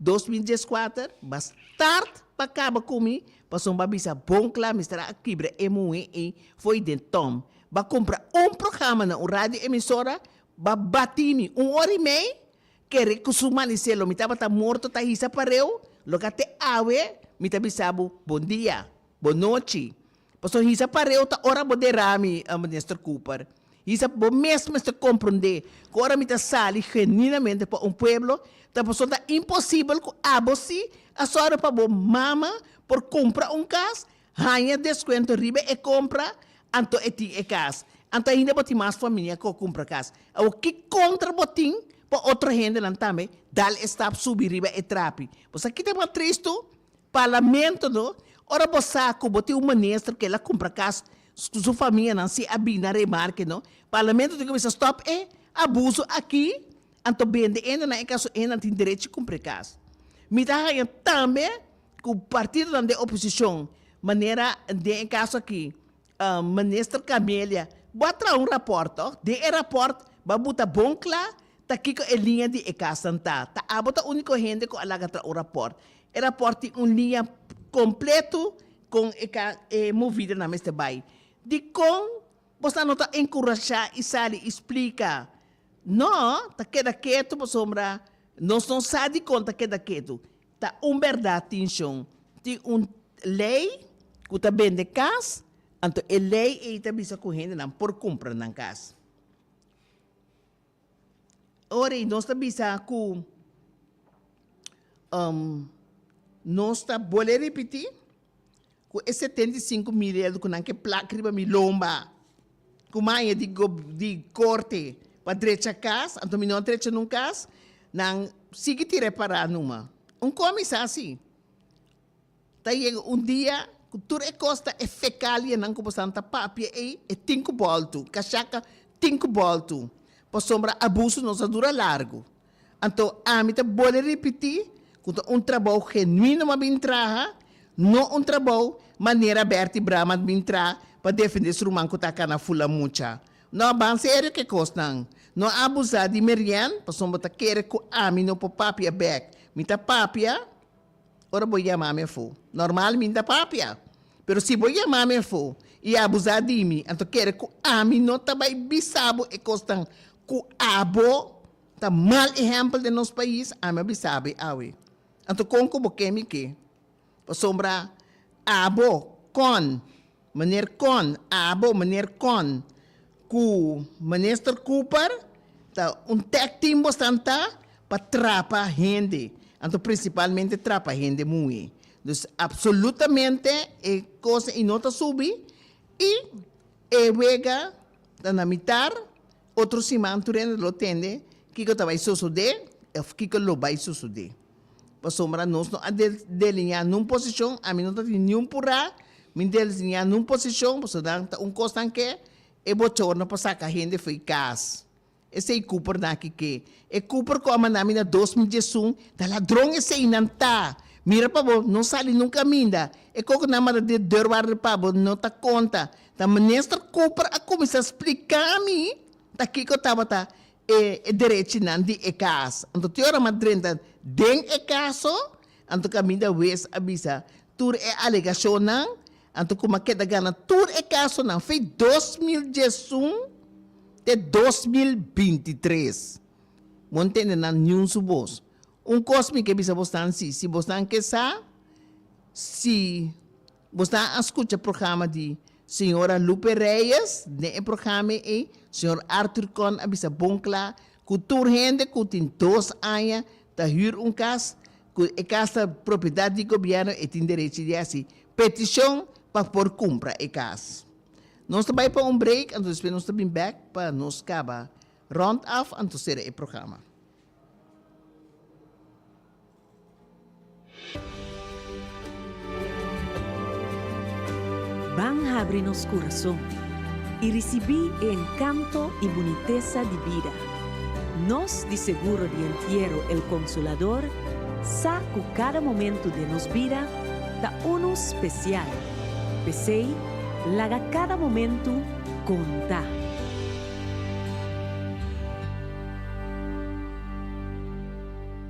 S2: Dos mil dieskuater ba start pa kaba ku mi pasobra mi a bisa bon kla mester a kibra e muhé ei fo'i den tòm. Ba kumpra un programa na un radio emisora, ba batí mi un ora i mei, kere ku su manisé lo mi tabata morto ta hisa pareu, lo ka te awe mi ta bisa bo bon dia, bon nochi. Pasobra hisa pareo ta ora bo dera mi, Minister Cooper. Hisa bo mes mester compronde cu ora mi ta sali genuinamente pa un pueblo, ta pasobra ta imposible cu abo si a zorga pa bo mama por cumpra un cas, haya descuento riba e compra, anto e tin e cas. Anto ainda bo tin mas famia cu a cumpra cas. Awor, ki contra bo tin pa otro hendenan tambe dal e stap subi riba e trapi? Bo sa kico ta mas tristu? Parlamento no, ora bo sa cu bo tin un minister cu el a cumpra cas cu su famianan si a bini a remarke no, Parlamento tin cu bisa stop e abuso aki anto bende endenan e cas cu endenan tin derecho di cumpra e cas. Mi ta haña tambe cu partidonan den oposicion manera den e caso aki Minister Camelia, bo a traha un raport to? Den e raport ba buta bon cla ta kico e liña di e casanan ta. Ta abo ta unico hende cu a laga traha un raport. E raport tin un liña completo con e movidanan mester bay. Dicon bo sa no ta encurasha y sali y splica? No, ta keda ketu, pasobra nos no sa dicon ta keda ketu. Ta un berdad tin shon. Tin un ley cu ta bende cas, anto e ley ey ta bisa cu hendenan por cumpra nan cas. Ora ey nos ta bisa cu nos ta bolbe ripiti. ku e setenta i sinku mil ierdu ku nan ke plak riba mi lomba ku maña di di korte pa drecha kas, anto mi no a drecha nun kas, nan sigui tira e pará numa. Un komisá así ta yega un dia ku tur e kos ta e fekalianan ku boso nan ta papia ei, e tin ku bòltu, kashaka tin ku bòltu, pasobra abusu no sa dura largu. Anto ami ta bole ripití ku ta un trabou genuino m'A bin traha, no un trabou manera Bertie Brahman bin traha pa defendé su ruman ku ta kana fula mucha. No a ban serio ku e kosnan. No a abusá di Marianne pasobra bo ta kere ku ami no por papia bek. Mi ta papia ora bo yama mi afó. Normal mi ta papia. Pero si bo yama mi afó i a abusá di mi, anto kere ku ami no ta bai bisa bo e kosnan ku abo Ta mal ehempel den nos pais, ami a bisabe awe. Anto kon ku bo ke mi ke? Pasobra abo kon Meneer Kon, abo Meneer Kon, ku Minister Cooper ta un tag team bo santá pa trapa hende, anto prinsipalmente trapa hende muhé. Dus apsolutamente e kos ei no ta subi i e wega ta na mitar Otro siman tur hende lo tende kiko ta bai sosodé òf kiko lo bai sosodé. Pasobra nos no a delineá nun posishon, ami no ta tin niun purá mi delineá nun posishon pasobra nan ta un kosnan ke e bochorno pa saka hende fo'i kas. Esei Cooper nan aki ke. E Cooper ku a mandá mi na dos mil diesun ta ladron esei nan ta. Mira pa bo, no sali nun kaminda. E kokonan manda den dor ward'e pa bo no ta konta. Ta Minister Cooper a cuminsa splica mi ta kico tabata e derechinan di e cas. Anto tin ora m'a drenta den e caso, anto caminda Wees a bisa tur e alegacionnan, anto cu m'a keda gana tur e casonan fi dos mil diesun te dos mil binti tres. Bo ntende nan niun su bos. Un cos mi ke bisa bosnan si, si bosnan ke sa si, Bo sta a skucha programa di Señora Lupe Reyes. Den e programa ei, Señor Arthur Kon a bisa bon kla ku tur hende ku tin dos aña ta hür un kas, ku e kas ta propiedat di gobièrnu, e tin derechi di hasi petishon pa por kumpra e kas. Nos ta bai pa un break, anto despues nos ta bin bèk pa nos kaba rònt af anto sera e programa.
S3: Ban habri nos kurason i risibí e enkanto i bunitesa di bida. Nos di Seguro di Entiero El Consolador sa ku kada momentu den nos bida ta unu spesial, p'esei laga kada momentu konta.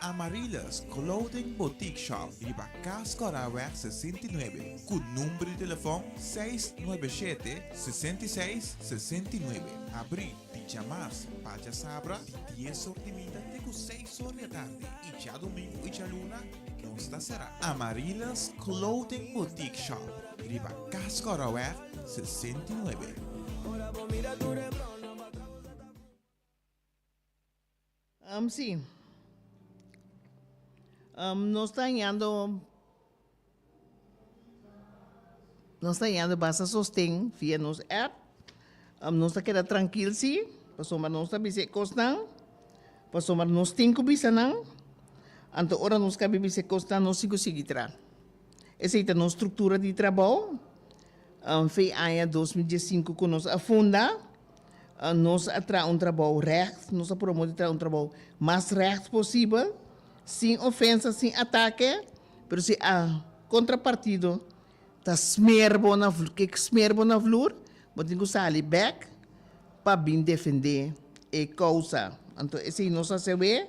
S4: Amarilus Clothing Boutique Shop riba Cas Corraweg sesenta i nuebe cu number di telefon seis nuebe shete sesenta i seis sesenta i nuebe. Abri di djamas pa djasabra di dies or di mida te cu seis or di atardi y djadomingo y djaluna nos ta cera. Amarilus Clothing Boutique Shop riba Cas Corraweg sesenta i nuebe.
S2: Am si am nos ta hañando nos ta hañando basta sosten via nos app am nos ta keda trankil si pasobra nos ta bisa e kosnan pasobra nos tin ku bisa nan anto ora nos kabe bisa e kosnan nos tin ku sigui traha. Esei ta nos struktura di trabou. Fe aña dos mil diesinku ku nos a funda. Nos a traha un trabou règt. Nos a promo di traha un trabou mas règt posibel, sin ofensa, sin atake. Pero si a kontrapartido ta smer bo na ke smer bo na vloer, bo tin ku sali bèk pa bin defendé e kousa. Anto esei nos a hasi awe.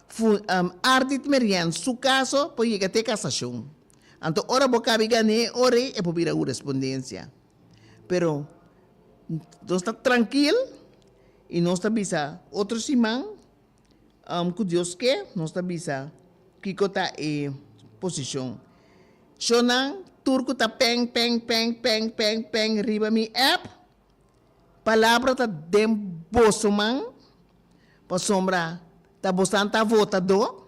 S2: Fun am ardit merian su kaso por yega te kasashon. Anto ora bo kabi gané e ora ei e por bira hurispundensia. Pero nos ta trankil i nos ta bisa otro siman am ku Dios ke nos ta bisa kiko ta e posishon. Shornan tur ku ta peng peng peng peng peng peng riba mi app Palabra ta den boso man, pasobra tabosan ta votadó,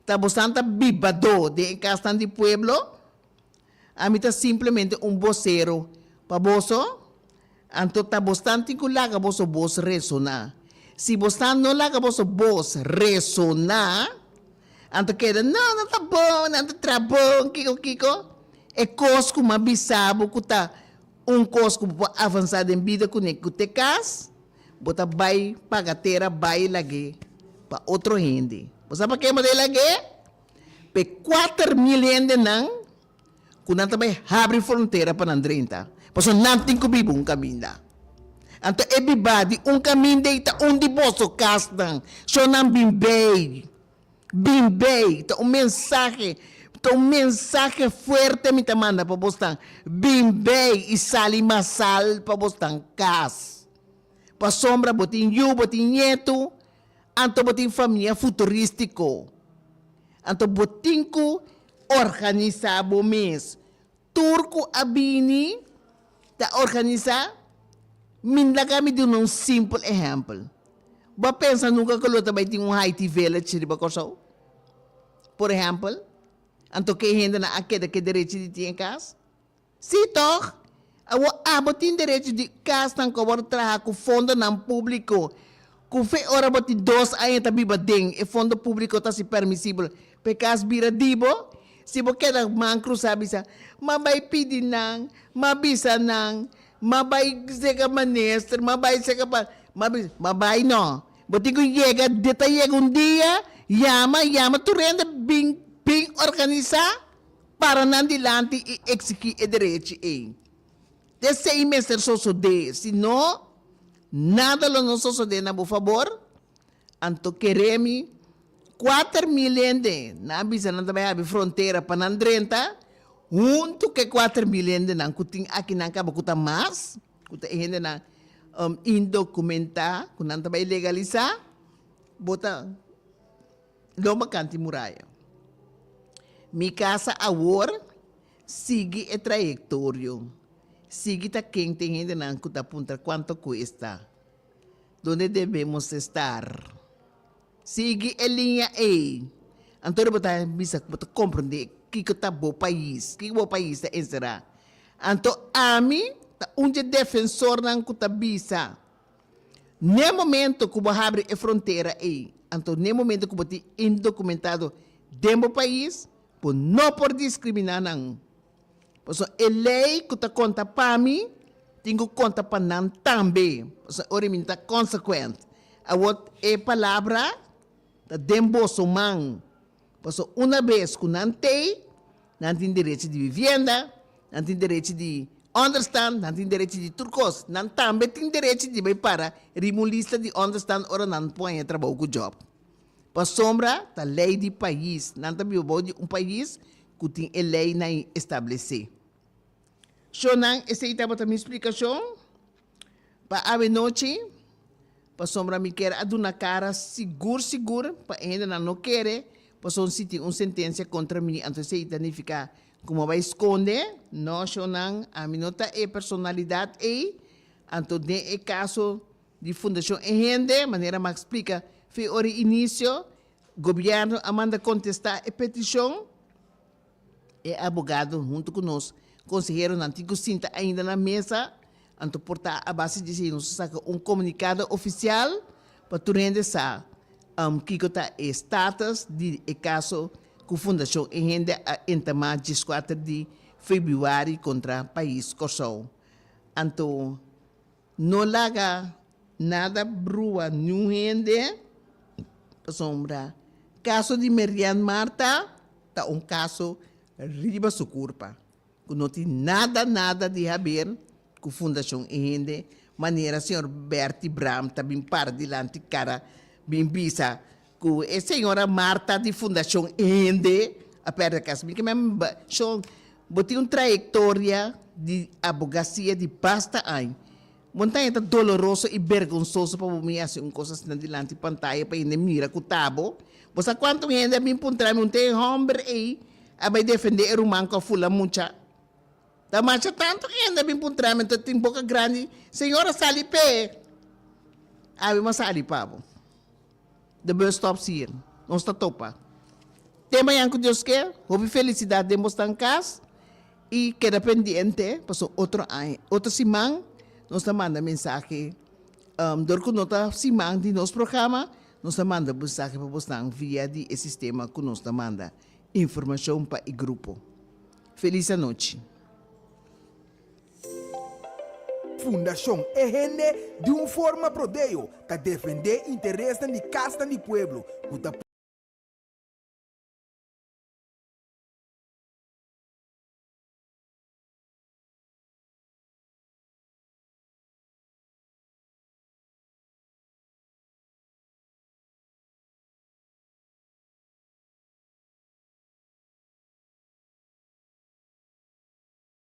S2: tabosan ta bibadó den e kasnan di pueblo. Ami ta simplemente un bosero pa boso, anto tabosan tin ku laga boso bos resoná. Si bosan no laga boso bos resoná, anto keda, no, no ta bon, nan ta traha bon, kiko, kiko. E kos ku mi a bisa bo ku ta. Un kos ku bo por avansá den bida kuné ku te kas bo ta bai paga tera bai lag'é pa otro hende. Bo sa pak'é bo ta e lag'é? Pa e kuater mil hendenan ku nan ta bai habri frontera pa nan drenta, pasobra nan tin ku biba un kaminda. Anto e bibá di un kaminda ei ta un di boso kasnan, shon nan bin bei. Bin bay, ta un mensahe, ta un mensahe fuerte mi ta manda pa bosnan, bin bay y sali masal pa bosnan cas. Pasobra bo tin yu, bo tin nietu, anto bo tin famia futuristico, anto bo tin cu organisa bo mes. Tur cu a bini ta organisa, mi laga mi duna un simpel ehempel. Bo a pensa nunca cu lo ta bay tin un Haiti Village riba Corsou? Por ehempel, anto ke hendenan a keda ke derechi di tin e cas? Si toch! Awor abo tin derechi di casnan cu a worde traha cu fondonan publico. Cu fe ora bo tin dos aña ta biba den e fondo publico ta si permisibel pa e cas bira di bo? Si bo keda man crusa bisa, ma bay pidi nan, ma bisa nan, ma bay seca minister, ma bay seca pa, ma bisa, ma bay no. Bo tin cu yega, di ta yega un dia, yama, yama tur hende bin, bin organisa, para nan dilanti y exigi e derechi ey. T'esei mester sosodé, si no, nada lo no sosodé na bo fabor. Anto keré mi, kuater mil hende, nan a bisa nan ta bai abi frontera pa nan drenta huntu ku e kuater mil hendenan ku tin akinan kaba ku ta mas, ku ta e hendenan indokumentá ku nan ta bai legalisá, bo ta lomba kant di muraya mi kasa awor. Sigui e trayektorio, sigui ta ken t'e hendenan ku ta puntra kuanto kuesta, donde debemos estar. Sigui e liña ei, anto di bo ta bisa ku bo ta komprondé kiko ta bo pais, kiko bo pais ta enserá. Anto ami ta un dje defensornan ku ta bisa, n'e momento ku bo habri e frontera ei, anto n'e momento ku bo tin indokumentado den bo pais, Bo no por diskriminá nan. Pasobra e lei ku ta konta pa mi tin ku konta pa nan tambe, pasobra ora mi ta konsekuent. Awor e palabra ta den boso man, pasobra una bes ku nan t'ei, nan tin derechi di bibienda, nan tin derechi di ònderstan, nan tin derechi di tur kos. Nan tambe tin derechi di bai para riba un lista di ònderstan ora nan pone trabou ku jòb. Pasobra ta lei di pais, nan ta biba bou di un pais ku tin e leinan i establesé. Shon nan, esei tabata mi splikashon pa awenochi, pasobra mi kere a duna kara sigur sigur pa e hendenan no kere pasobra si tin un sentensia kontra mi, anto esei ta nifiká ku mi a bai skonde? No, shonnan, ami no ta e personalidat ei, anto den e kaso Di Fundacion E Hende, manera Max splica fe ora e inicio, Gobierno a manda contesta e peticion. E abogado hunto cu nos conseheronan tin cu sinta ainda na mesa, anto por ta a base di esei nos a saca un comunicado oficial pa tur hende sa kico ta e status di e caso cu Fundacion E Hende a entama dieskuater di febuari contra pais Corsou. Anto. No laga nada brua niun hende, pasobra kaso di Merian Marta ta un kaso riba su kurpa, ku no tin nada nada di haber ku fundashon e hende, manera señor Bertie Braam ta bin para dilanti kara bin bisa. Ku e señora Marta di Fundacion Hende a perde kas mi. Kimen Shon, bo tin un trayektoria di abogasia di basta añ. Bon ta hende doloroso i bergonsoso pa bo bin hasi un kos asina dilanti pantaya pa hende mira ku ta bo. Bo sa kuantu un hende a bin puntra mi hunté e hòmber ei a bai defendé e ruman ku a fula mucha? Ta masha tantu hende a bin puntra mi hunté tin boka grandi, Señora sali p'e! Abi bo a sali pa bo. De bus stop sier nos ta topa. Te mañan cu Dios ker, hopi felicidad den bos tan cas y keda pendiente pasobra otro aña, otro siman nos ta manda mensahe dor cu no ta siman di nos programa nos ta manda mensahe pa bosnan via di e sistema cu nos ta manda informacion pa e grupo. Feliz anochi.
S1: Fundashon E Hende di un forma prodeo ta defendé interesnan di kasnan di pueblo ku ta.